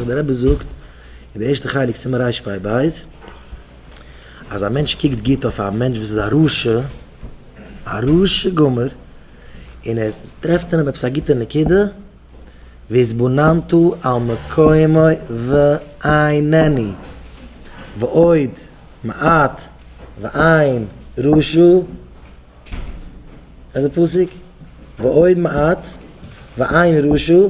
ווי דער רבי זאגט אין די ערשטע חלק סימן רפ ב, אז א מענטש קוקט גוט אויף א מענטש וואס איז א רשע, א רשע גמור, און ער טרעפט אין אים עפעס א גוטע נקודה, והתבוננתו על מקומו ועיניני, ועוד מעט ועין ראשו, איזה פסוק? ועוד מעט ועין ראשו.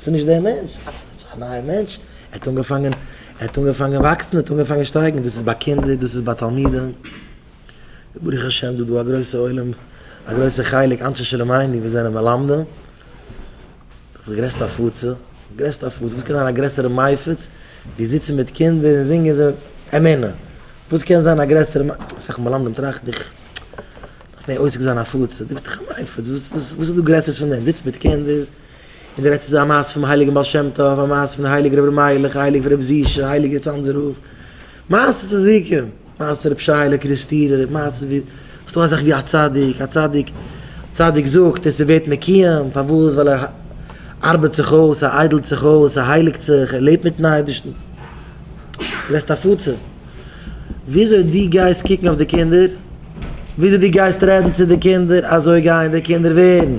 ס'איז נישט דער מענטש, עס איז פלוצלינג א נייער מענטש, ער האט אנגעפאנגען, ער האט אנגעפאנגען וואקסן, ער האט אנגעפאנגען שטייגן, דאס איז ביי קינדער, דאס איז ביי תלמידים, ברוך השם דא דא א גרויסע עולם, א גרויסע חלק אנשי שלומינו וואס זענען מלמדים, דאס איז די גרעסטע הפצה, די גרעסטע הפצה, וואס קען זיין א גרעסערע מפיץ ווי זיצן מיט קינדער און זינגען זיי אמונה, וואס קען זיין א גרעסערע, אסאך מלמדים טראכט איך. אויף מער עוסק זיין הפצה, דו ביסט דאך א מפיץ, וואס איז דא גרעסערס פון דעם, זיצט מיט קינדער און דו רעדסט איז א מעשה פונעם הייליגן בעל שם טוב, א מעשה פון הייליג רבי מיילעך, הייליג רבי זישע, הייליגער צאנזער רב, מעשה'ס צדיקים, מעשה פון רבי שיילע קריסטירער, מעשה'ס ווי ס'איז דא א זאך ווי א צדיק, א צדיק צדיק זאגט און ס'ווערט מקויים, פארוואס? ווייל ער ארבעט זיך אויס, ער איידלט זיך אויס, ער הייליגט זיך, ער לעבט מיטן אייבערשטן, דו רעדסט הפצה. וויאזוי דו גייסט קוקן אויף די קינדער, וויאזוי דו גייסט רעדן צו די קינדער, אזוי גייען די קינדער ווערן.